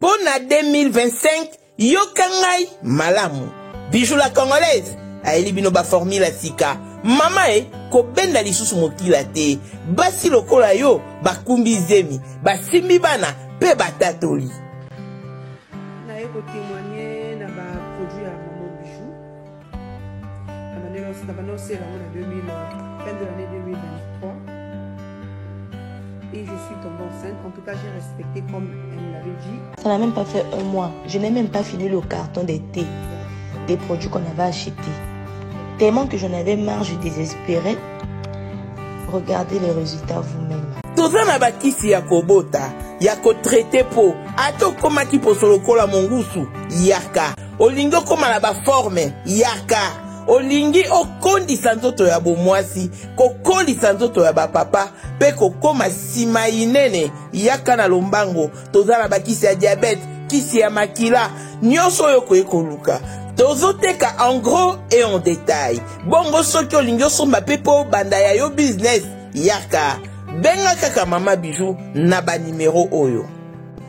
Mpo na 2025, yoka ngai malamu. Bijou la congolaise ayeli bino ba formule ya sika. Mama e, kobenda lisusu mokila te. Basi lokola yo bakumbi zemi, basimbi bana mpe batatoli. Naye ko temoigner na ba produits ya na banda osela yango na 2000 fin de l'année 2023 et je suis tombée enceinte. En tout cas, j'ai respecté comme elle me l'avait dit. Ça n'a même pas fait un mois. Je n'ai même pas fini le carton des thés, des produits qu'on avait achetés. Tellement que j'en avais marre, je désespérais. Regardez les résultats vous-même. toza na bakisi ya kobota ya kotraite po ata okomaki poso lokola mongusu yaka Olingi okoma na baforme? Yaka! Olingi okondisa nzoto ya bomwasi, kokolisa nzoto ya bapapa mpe kokoma nsima inene? Yaka na lombango. Toza na bakisi ya diabete, kisi ya makila, nyonso oyo okoki koluka tozoteka en gros et en detail bongo soki olingi osomba mpe mpo obanda ya yo business yaka benga kaka mama bijou na banimero oyo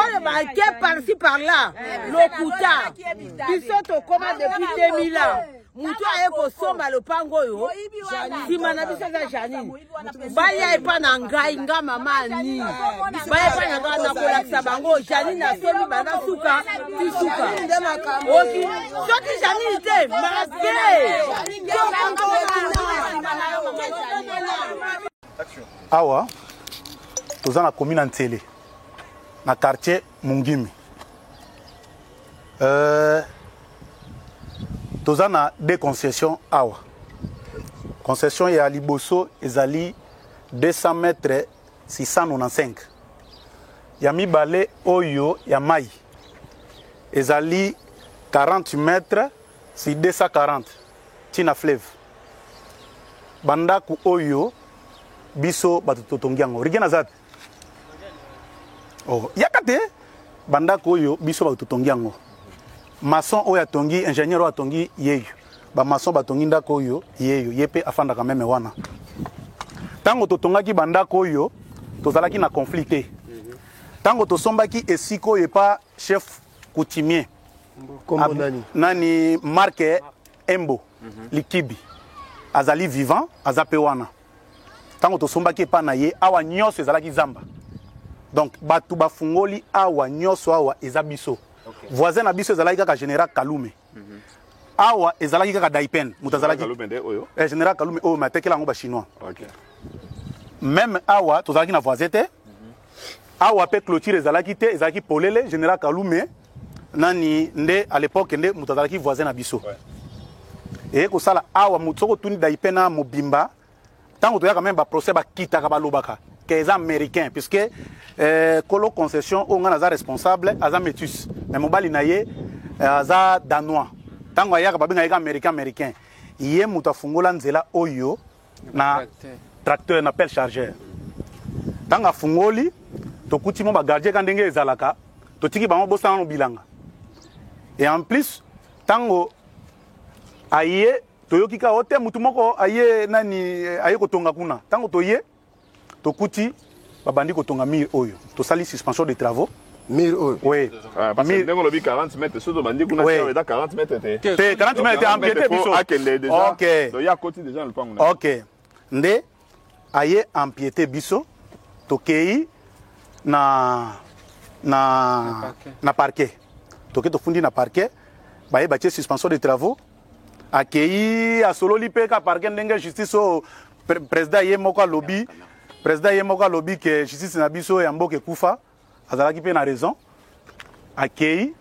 oyo bake parci par là lokuta biso tokoma depuis 2000 ans motu aye kosomba lopango oyo nsima na biso aza janine baya epa na ngai nga mama ani baya epa na ngai nakolakisa bango janine asombi banda suka ti suka oki soki janine te make awa toza na komi na nsele na quartier Mungimi. Euh, toza na deux concessions awa. Concession ya liboso ezali 200 mètres 695. Ya mibale oyo ya mai ezali 40 mètres si 240 tina fleuve. Bandako oyo biso bato totongi yango. Rigena zapi? oh, yaka te bandako oyo biso bato totongi yango maçon oyo atongi ingénieur oyo atongi yeyo bamaçon batongi ndako oyo yeyo ye mpe afandaka meme wana ntango totongaki bandako oyo tozalaki na conflit te ntango tosombaki esika oyo epa chef coutumier Ab, nani? nani marke embo mm -hmm. likibi azali vivant aza mpe wana Tango tosombaki epa na ye, awa nyoso ezalaki zamba. Donc batu bafungoli awa nyoso awa eza biso. Okay. Voisin na biso ezalaki kaka General Kalume. Mm -hmm. Awa ezalaki kaka Daipen, mutu azalaki. Kalume nde oyo. Eh General Kalume oyo mais atekela yango ba chinois. Okay. Même awa tozalaki na voisin te. Mm -hmm. Awa pe clôture ezalaki te, ezalaki polele General Kalume. nani nde à l'époque nde moto azalaki voisin na biso eye kosala awa moto soki otuni daipe na mobimba ntango toyaka meme baprocès bakitaka balobaka ke eza américain puisque eh, kolo concession oyo ngai naza responsable aza métus mais mobali na ye eh, aza danois ntango ayaka babengaka ye ka américain américain ye moto afungola nzela oyo na tracteur na pelle chargeur ntango afungoli tokuti mwa bagardien ka ndenge ezalaka totiki bango bosana no bilanga e en plus ntango aye toyoki ka ote motu moko aye nani aye kotonga kuna ntango toye Tokuti babandi kotonga mur oyo. Tosali suspension de travaux. Mur oyo. Oui. Ah, parce que ndenge olobi 40 mètres soki tobandi kuna oui. eza 40 mètres te. Te 40 mètres te empiété biso. Akende déjà. OK. Donc ya koti déjà na lupango. OK. Nde aye empiété biso tokei na na na parquet. Toke tofundi na parquet baye batie suspension de travaux akeyi asololi mpe ka parke ndenge justice oyo president ye moko alobi president ye moko alobi ke justice na biso ya mboka ekufa azalaki mpe na raison akeyi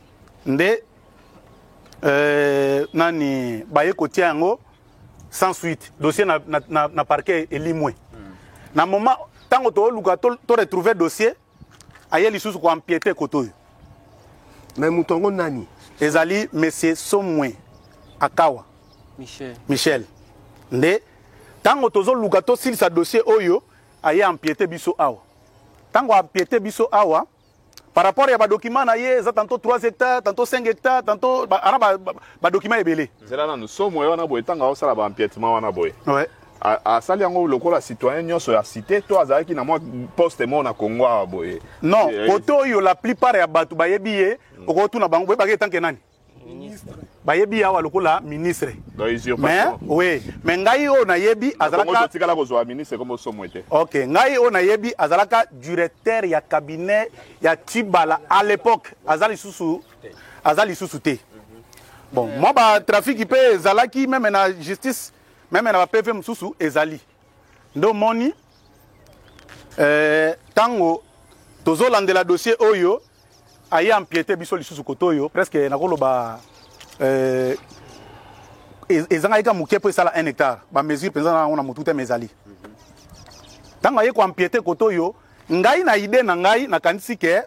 nde euh, nani baye kotia yango sans suite dossier na, na, na, na parquet elimwe na moment ntango tooluka to, to retrouve dossier aye lisusu ko empiete koto oyo mais moto yango nani ezali monsieur somwe akawa michel, michel. nde ntango tozoluka tosilisa dossier oyo aye empiete biso awa ntango empiete biso awa par rapport ya badokima na ye eza tanto 3 hectare tanto 5 hectare tanto ana badokima ebele zela nanu somo wana boye ntango aosala baempietema wana boye asali yango lokola citoyen nyonso ya cité to azalaki na mwa poste moko na Congo awa boye non eh, eh. kote oyo la plupart ya bato bayebi ye mm. okotuna bango boyebaka etanke nani bayebi ye awa lokola ministre mais oui mais ngai oyo nayebi azalakatikala kozwa ministre komo somo ete ok ngai oyo nayebi azalaka directeur ya cabinet ya tibala à l'époque aza lisusu aza lisusu te bon mwa batrafiki mpe ezalaki meme na justice meme na ba pv mosusu ezali nde omoni ntango eh, tozolandela dossier oyo aye ampiete biso lisusu kote oyo presque nakoloba eh, e-, ezangaki ka moke mpo esala 1 hectare bamesure mpenza na yango na motu te ma ezali ntango aye koampiete kote oyo ngai na ide na ngai nakanisi ke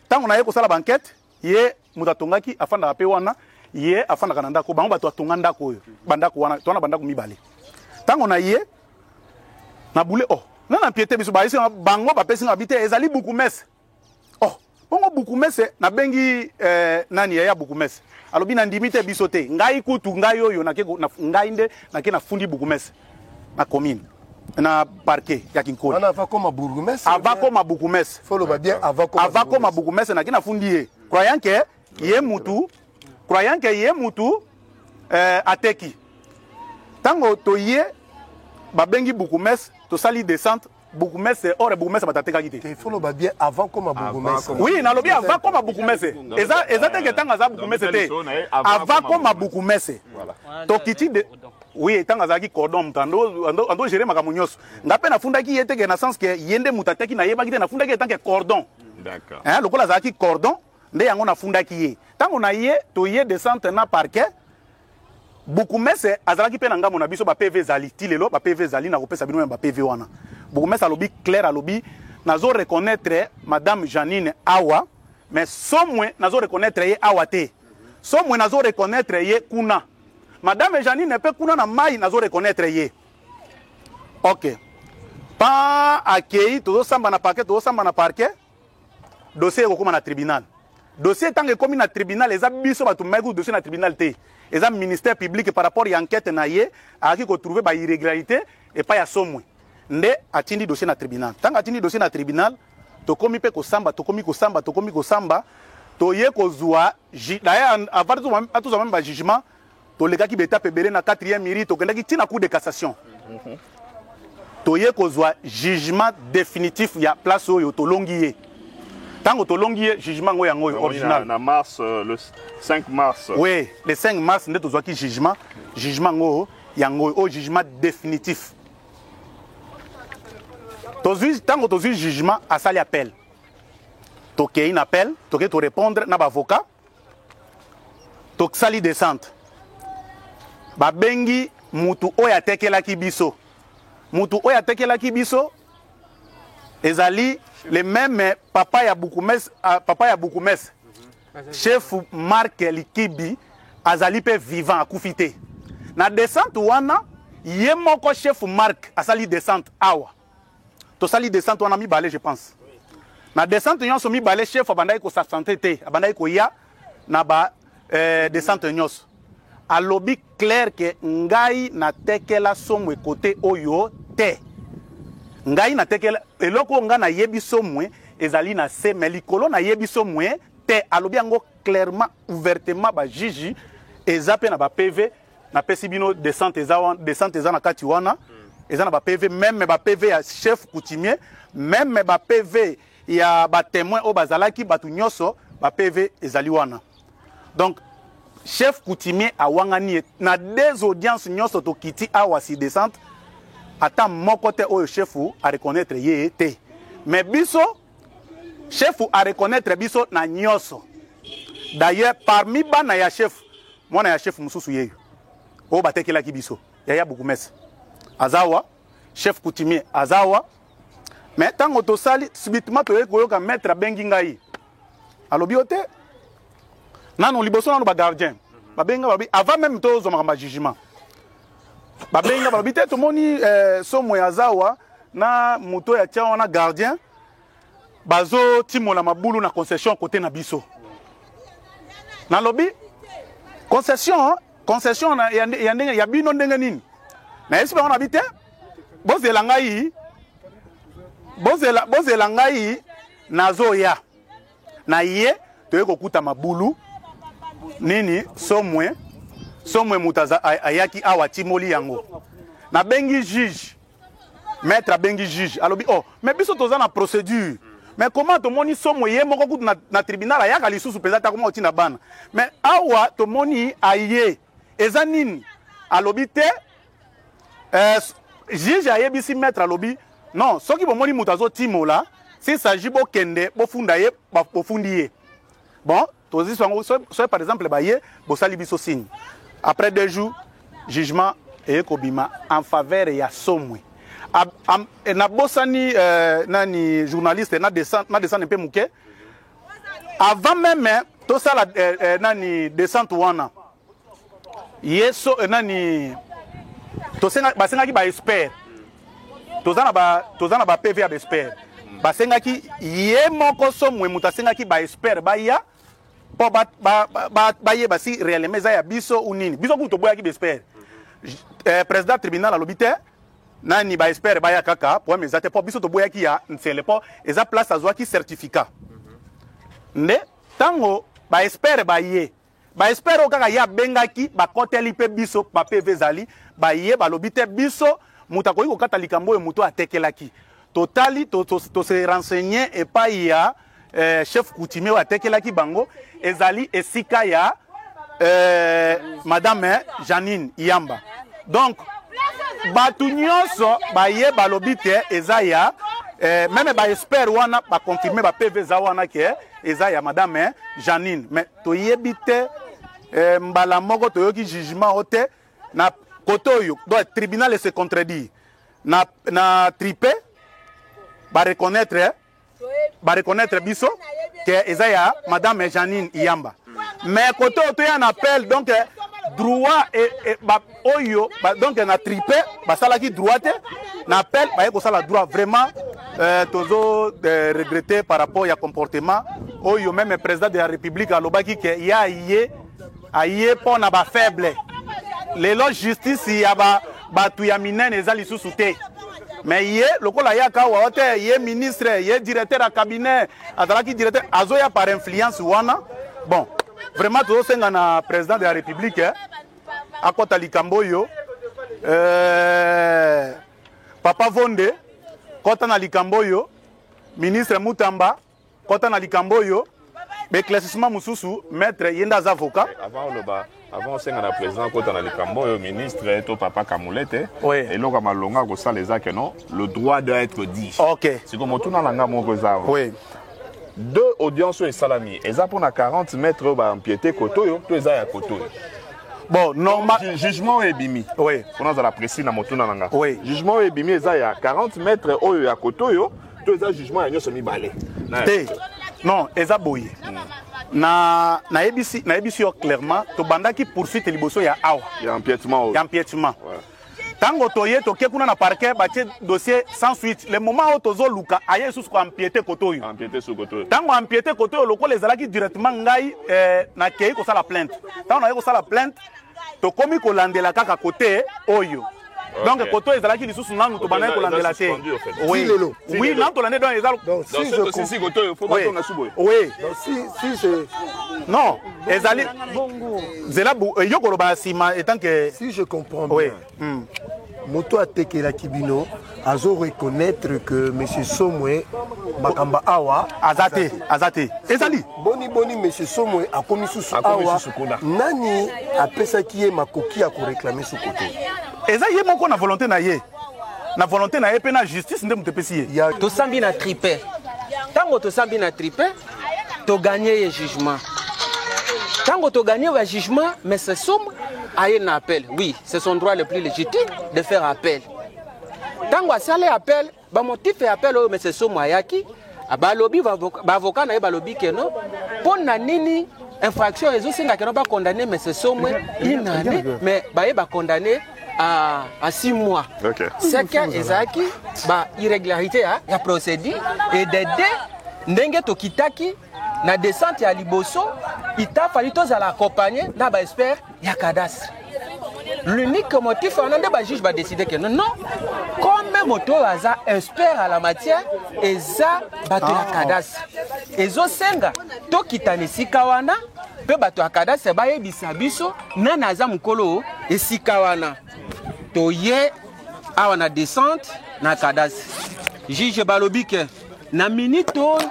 ntango naye kosala bankete ye moto atongaki afandaka mpe wana ye afandaka na ndako bango bato batonga ndako oyo bandako wana towana bandako mibale ntango na ye na bule oh nga na mpiete biso bayesi bango bapesi nga bite ezali bukumese oh bongo bukumese nabengi eh, nani yaya bukumese alobi nandimi te biso te ngai kutu ngai oyo nake ngai nde nake nafundi bukumese na commune na parquet ya kinkoli wana avakoma bourgmestre avakoma bourgmestre faut loba bien avakoma avakoma bourgmestre na kina fundi ye croyant que ye mutu croyant que ye mutu euh, ateki tango toye babengi bourgmestre tosali descente bourgmestre or bourgmestre bato atekaki te faut loba bien avant koma bourgmestre oui nalobi avant koma bourgmestre eza eza te ke ntango aza bourgmestre te avant koma bourgmestre tokiti de oui ntango azalaki cordon moto ando gere makambo nyonso nga mpe nafundaki ye te ke na sens ke ye nde moto ateki nayebaki te nafundaki ye tant ke cordon lokola azalaki cordon nde yango nafundaki ye ntango na ye toye descente na parquet Bourgoumestre azalaki pe na ngambo na biso ba PV ezali ti lelo ba PV ezali na kopesa bino ya ba PV wana bourgoumestre alobi claire alobi nazo reconnaitre madame Janine awa mais somwe nazo reconnaitre ye awa te somwe nazo reconnaitre ye kuna madame Janine pe kuna na mai nazo reconnaitre ye ok pa akei tozosamba na parke tozosamba na parke dossier ekokoma na tribunal dossier ntango ekomi na tribunal eza biso bato mimaki kutu dossier na tribunal te eza ministère public par rapport ya enquête na ye ayaki kotrouve ba irrégularité epai ya somwe nde atindi dossier na tribunal ntango atindi dossier na tribunal tokomi mpe kosamba tokomi kosamba tokomi kosamba toye kozwa d'ailleurs avant tozwa meme bajugement Tolekaki ba etapes ebele na quatrième iri, tokendaki ti na Cour de cassation. Toye kozwa jugement definitif ya place oyo tolongi ye. Tango tolongi ye, jugement yango yango oyo original. Na mars euh, le 5 mars. Oui, le 5 mars nde tozwaki jugement, jugement yango yango oyo jugement definitif. Tozwi tango tozwi jugement asali appel. Tokei na appel, tokei to répondre na ba avocats. tosali descente babengi mutu oyo atekelaki biso mutu oyo atekelaki biso ezali le meme papa ya bukumes ah, papa ya bukumes mhm. chef mark likibi azali mpe vivant akufi te na descente wana ye moko chef mark asali descente awa tosali descente wana mibale je pense na descente nyonso mibale chef abandaki kosabsente te abandaki koya na ba eh, descente nyonso alobi claire ke ngai natekela somwe kote oyo te ngai natekela eloko ngai nayebi somwe ezali na se me likolo nayebi somwe te alobi yango clairement ouvertement bajiji eza mpe na bapv na pesi bino descente eza wana descente eza na kati wana eza na ba PV même ba PV ya chef coutumier même ba PV ya ba témoins oyo bazalaki bato nyonso ba PV ezali wana donc chef coutumier awangani ye na des audiences nyonso tokiti awa si descente ata moko te oyo chefu areconnaitre ye te mais biso Chef a reconnaitre biso na nyoso. D'ailleurs, parmi bana ya chef, mwana ya chef mususu yeyo. Oyo batekelaki biso, yaya bukumese. Azawa, chef coutumier azawa. Mais tango tosali subitement toye koyoka maître abengi ngai. Alobi ote nanu liboso nanu ba gardien. Babenga babi avant même tozwa makambo ya jugement. Babengi nga balobi te tomoni eh, somo ya zawa na moto ya tia wana gardien bazotimola mabulu na concession kote na biso nalobi concession concession ya, ya, ya, ya bino ndenge nini nayebisi bango na bi te bozela ngai bozela, bozela ngai nazoya na ye toye kokuta mabulu nini somwe somwe moto ayaki awa atimoli yango nabengi juge maître abengi juge alobi oh mais biso toza na procédure mais comment tomoni somwe ye moko kutu na, na tribunal ayaka lisusu mpenza ata koma otinda bana mais awa tomoni aye eza nini alobi te eh, juge ayebisi maître alobi non soki bomoni moto azotimola s'il s'agit bokende bofunda ye bofundi ye bon tozwi yango soki par exemple baye bosali biso signe après deux jours jugement eye kobima en faveur ya somwe nabosani euh, nani journaliste na descendre mpe moke avant meme tosala eh, eh, nani descente wana ye so eh, nani tosenga basengaki ba expert toza na ba toza na ba PV ya ba expert basengaki ye moko somwe moto asengaki ba expert baya mpo bayeba ba, ba, ba, ba si réellement eza ya biso ou nini biso kutu toboyaki ba expert eh, président tribunal alobi te nani ba expert baya kaka problème eza te po biso toboyaki ya nsele po eza place azwaki certificat nde ntango ba expert baye ba expert oyo kaka ye abengaki bakoteli mpe biso ba pv ezali baye balobi te biso moto akoki kokata likambo oyo moto atekelaki totali to, to, to, to se renseigner epai ya eh, chef coutumier oyo atekelaki bango ezali esika ya eh, madame janine iyamba donc bato nyonso baye balobi te eza ya eh, meme baexpert wana baconfirme bapv eza wana ke eza ya madame janine mais toyebi te eh, mbala moko toyoki jugement o te na kote oyo donc tribunal ese contredire na, na tripe bareconnaitre ba reconnaître biso que eza ya madame Janine Iyamba mais koto to ya na appel donc droit et, et ba oyo ba, donc na tripe basalaki droit te na appel baye kosala droit vraiment euh, tozo euh, regretter par rapport ya comportement oyo meme président de la république alobaki que ya ye aye mpo na ba faible lelo justice ya ba bato ya minene eza lisusu te me ye lokola ayaka awa te ye ministre ye directeur ya cabinet azalaki directeur azoya par influence wana bon vraiment tozosenga na président de la république eh, akɔta likambo oyo eh, papa vonde kɔta na likambo oyo ministre mutamba Kota na likambo oyo beclassissement mosusu maître ye nde aza avocat eh, avant oloba avant osenga na président kota na likambo oyo ministre to papa kamulete oui. eloko ya malonga akosala eza ke non le droit doit être dit ok siko motuna na nga moko eza oui. deux audience oyo esalami eza mpona 40 mètre oyo baampiete kote oyo to eza ya kote oyo bon normal jugement oyo ebimi oui. mpona azala précis na motuna na nga oui. jugement oyo ebimi eza ya 40 mètre oyo ya kote oyo to eza jugement ya nyonso mibale te non eza boye na nayebisi nayebisi yo clairement tobandaki poursuite liboso ya awa ya empiètement ya empiètement ntango toye toke kuna na parquet batie dossier sans suite le moment oyo tozoluka aye lisusu koampiete kote oyo ntango ampiete kote oyo lokola ezalaki directement ngai eh, nakei kosala plainte ntango naye kosala plainte tokomi kolandela kaka kote oyo donc okay. koto ezalaki lisusu nanu tobandaki kolandela te oui lelo oui nanu tolande donc eza donc si je si si koto faut pas tonga subo oui donc si si je non ezali zela yo koloba sima etant que si je comprends bien Hum moto atekelaki bino azo reconnaître que monsieur Somwe makamba awa aza te aza te ezali boni boni monsieur Somwe akomi susu awa nani apesaki ye makoki ya koreklame suku te eza ye moko na volonté na ye na volonté na ye mpe na justice nde moto epesi ye tosambi na tripe ntango tosambi na tripe to gagner ye jugement tango to gagner ba jugement mais c'est somme aye na appel oui c'est son droit le plus légitime de faire appel tango asali appel ba motif ya appel oyo mais c'est somme ayaki balobi baavoka na ye balobi keno mpo na nini infraction ezosenga keno bacondamne mais ce somwe inane mais baye bacondamne à, à six mois. Okay. C'est qu'Ezaki, bah, irrégularité, hein, la procédure, et des deux, ndenge tokitaki, na descente ya liboso, il t'a fallu tous à l'accompagner, na ba expert, ya cadastre. L'unique motif, on a des bah, juges, bah, décider que non, non, comme moto aza expert à la matière, eza, bah, ah. cadastre. Ezo senga, tokitane sikawana, mpe bato ya kadastre bayebisa biso nani aza mokolo esika wana toye awa na descente na kadastre juge balobi ke na minute oyo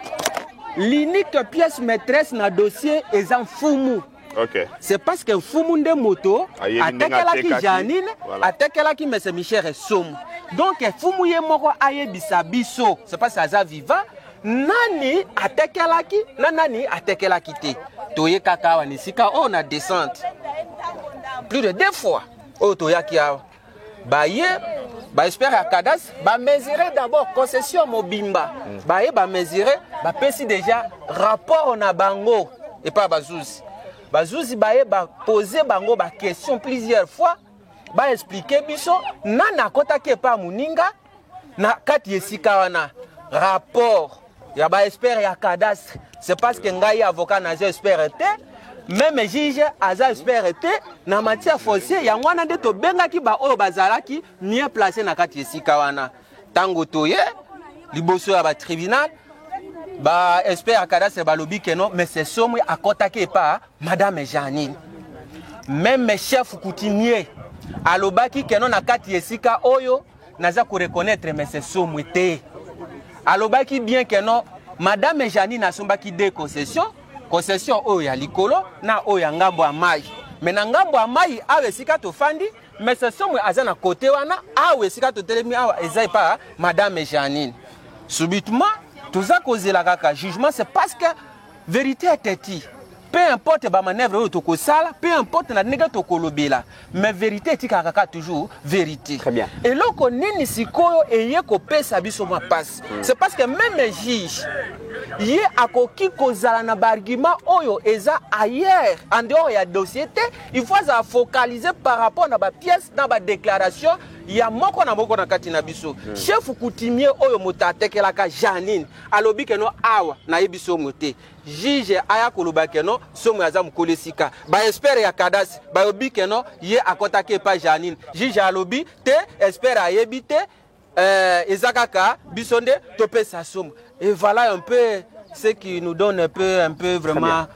l'unique pièce maîtresse na dossier eza mfumu okay. c'est parce que mfumu nde moto atekelaki janine voilà. atekelaki mese michel esomo donc mfumu ye moko ayebisa biso c'est parce aza viva nani atekelaki na nani atekelaki te toye kaka awa na esika oyo na descente plus de deux fois oyo toyaki awa baye baexpert ya cadastre bamesure d'abord concession mobimba mm. baye bamesure bapesi déjà rapport na bango epai bazuzi bazuzi baye bapose bango baquestion plusieurs fois baexplike biso nani akotaki epai ya moninga na kati ya esika wana rapport ya baexpert ya cadastre c'est parce que ngai avocat naza expert te meme juge aza expert te na matière foncier yango wana nde tobengaki baoyo bazalaki mieux place na kati ya esika wana ntango toye liboso ya batribunal baexpert ya cadastre balobi keno mais sesomi akɔtaki epa Madame Jeanine, meme chef coutumier alobaki keno na kati esika oyo naza ko reconnaître mese somwe te alobaki bien keno madame Jeanine asombaki de concession concession oyo ya likolo na oyo ya ngambo ya mai me na ngambo ya mai awa esika tofandi mese somwe aza na kote wana awa esika totelemi awa eza epa madame Jeanine subitement toza kozela kaka jugement c'est parce que Verite ya Teti. Peu importe ba manœuvre oyo tokosala, peu importe na ndenge tokolobela, mais verite etikaka kaka toujours verite. Très bien. Eloko nini sikoyo eye kopesa biso mwa pasi? C'est parce que même un juge ye akoki kozala na baargument oyo eza ailleurs en dehors ya dossier te il faut azala focalise par rapport na bapièce na badéclaration ya moko na moko na kati na biso chef coutumier oyo moto atekelaka janine alobi keno awa nayebi somo te juge aya koloba keno somo aza mokolo esika baespere ya kadasi bayobi keno ye akɔtaki epa janine juge alobi te espere ayebi te euh, eza kaka biso nde topesa somo et voilà un peu ce qui nous donne un peu, un peu vraiment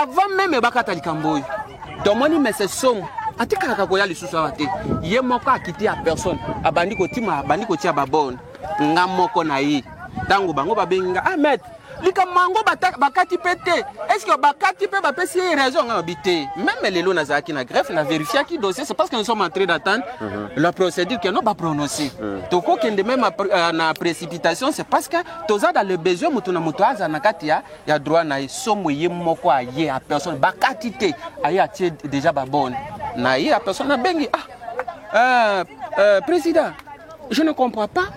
avant meme bakata likambo oyo tomoni mese somo atikalaka koya lisusu awa te ye moko akiti ya personne abandi kotima abandi kotia babone nga moko na ye ntango bango babengi nga ah maître likambo yango bakati mpe te estce bakati mpe bapesi ye raison nga babi te meme lelo nazalaki na greffe na verifiaki dossier c'est parce que nous sommes entré d'attendre mm -hmm. la procédure que non baprononce mm -hmm. tokokende meme euh, na précipitation c'est parce que toza dans le besoin moto na moto aza na kati ya ya droit na ye somo ye moko aye a personne bakati te aye atie deja babone na ye a personne abengi ah euh, euh, président je ne comprends pas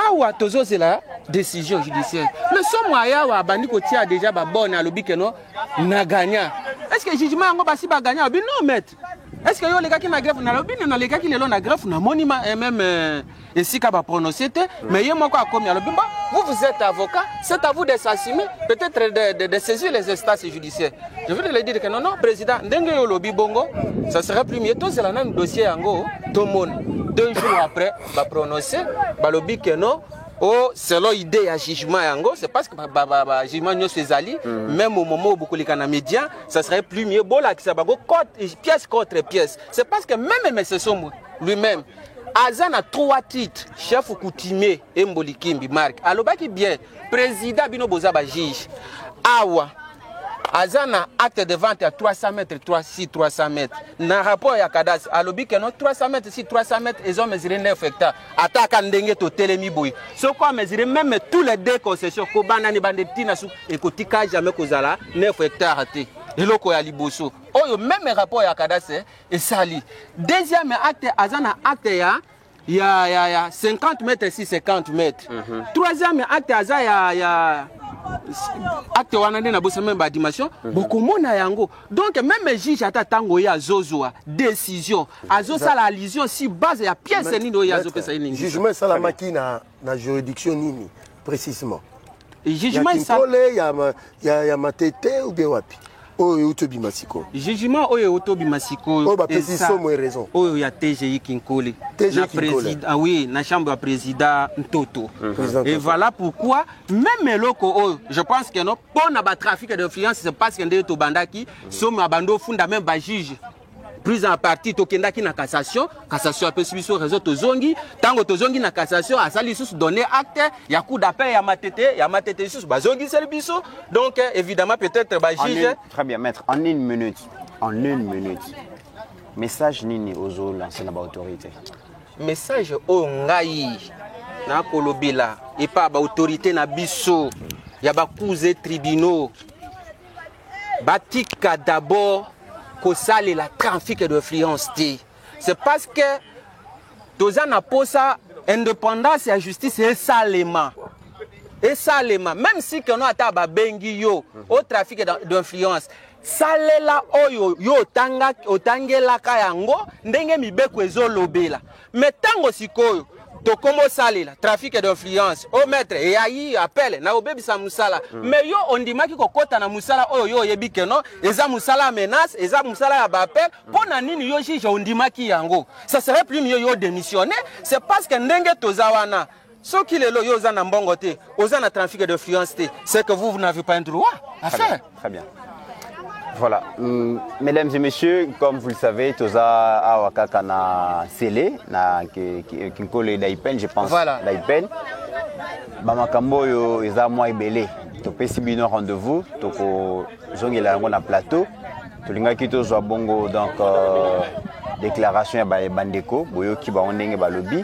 awa tozozela décision judiciaire mais somo aye awa abandi kotia deja babone alobi keno na gagna est ce que jugement yango basi bagagna abi non maître Est-ce que yo olekaki na greffe nalobi nini nalekaki lelo na greffe namoni ma- eh, meme euh, esika baprononce te mais ye moko akomi alobi mba vous vous êtes avocat c'est à vous de s'assumer peut-être de, de, de saisir les instances judiciaires je voulais le dire que non non président ndenge yo olobi bongo ça serait plus mieux tozela nanu dossier yango tomona deux jours après baprononce balobi que non o selon idée ya jugement yango c'est parce que ba- ba- ba- ba- jugement nyonso ezali même au moment oyo bokoleka na média ça serait plus mieux bolakisa bango pièce contre pièce c'est parce que même mese sombo lui-même aza na trois titres chef coutumier emboli kimbi mark alobaki bien président bino boza bajuge awa aza na acte de vente ya 300 mètre 3 si 300 mètre na rapport ya cadastre alobi keno 300 mètre si 300 mètre ezo mesure 9 hectare ataka ndenge totelemi boye soko amesure meme tous les deux concessions kobanda ni bande ti na suka ekotika jamais kozala 9 hectare te eloko ya liboso oyo meme rapport ya cadastre esali deuxième acte aza na acte ya ya, ya, ya 50 mètres si 50 mètres mm -hmm. troisième acte aza ya, ya acte wana nde nabosa meme badimension mm -hmm. bokomona yango donc meme juge ata ntango ye azozwa décision azosala allusion si base ya pièce nini oyo azopesa ye ningi jugement esalamaki na Na juridiction nini precisement? Jugement ya Kinkole, ya, ya, ya Matete ou bien wapi? oyo euti obima sikoyo jugement oyo euti obima sikoyo oyo bapesi somo e raison oyo ya tgi kinkole na président ah oui na chambre ya président ntoto mhm. et voilà pourquoi même eloko oyo je pense que non mpo na batrafic d'influence c'est parce que nde tobandaki somo abandi ofunda même bajuge plus en partie tokendaki na cassation cassation apesi biso raison tozongi ntango tozongi na cassation asali lisusu donner acte ya coup d'appel ya matete ya matete lisusu bazongiseli biso donc évidemment peut-être bajuge très bien maître en une minute en une minute message nini ozolanse na baautorité message oyo ngai nakolobela epa baautorité na biso ya bakuze tribunaux Batika d'abord kosalela trafic d'influence te. C'est parce que toza na posa indépendance ya justice esalema esalema même si keno ata babengi yo au trafic d'influence salela oyo yo otangelaka yango ndenge mibeko ezolobela me ntango sikoyo tokomi osalela trafic d'influence o oh, maître eyayi appel na obebisa mosala mm. mais yo ondimaki kokɔta na mosala oyo yo oyebi ke non eza mosala ya menace eza mosala ya baappel mpo hmm. na nini yo juge ondimaki yango ça serait plus mieux yo démissionne c'est parce que ndenge toza wana Soki lelo yo oza na mbongo te, oza na trafic d'influence te, c'est que vous, vous n'avez pas un droit à Très faire. Bien. Très bien. Voilà. Mm, mesdames et messieurs, comme vous le savez, toza awa kaka na Sele, na Kinkole Daipen, je pense. Voilà. Daipen. Bamakambo oyo eza mwa ebele. Topesi bino rendez-vous, tokozongela yango na plateau. Tolingaki tozwa bongo donc euh, déclaration ya bandeko boyoki bango ndenge balobi.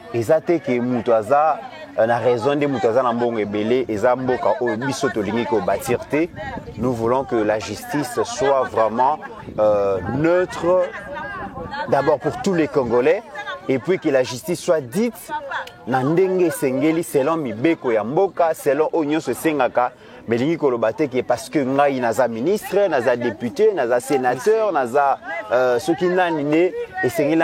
eza te ke moto aza euh, na raison nde moto aza na mbongo ebele eza mboka oyo biso tolingi kobatir te nous voulons que la justice soit vraiment euh, neutre d'abord pour tous les congolais et puis que la justice soit dite na ndenge esengeli selon mibeko ya mboka selon oyo nyonso esengaka melingi koloba te ke parce que ngai naza ministre naza député naza sénateur naza euh, soki nani nde esengeli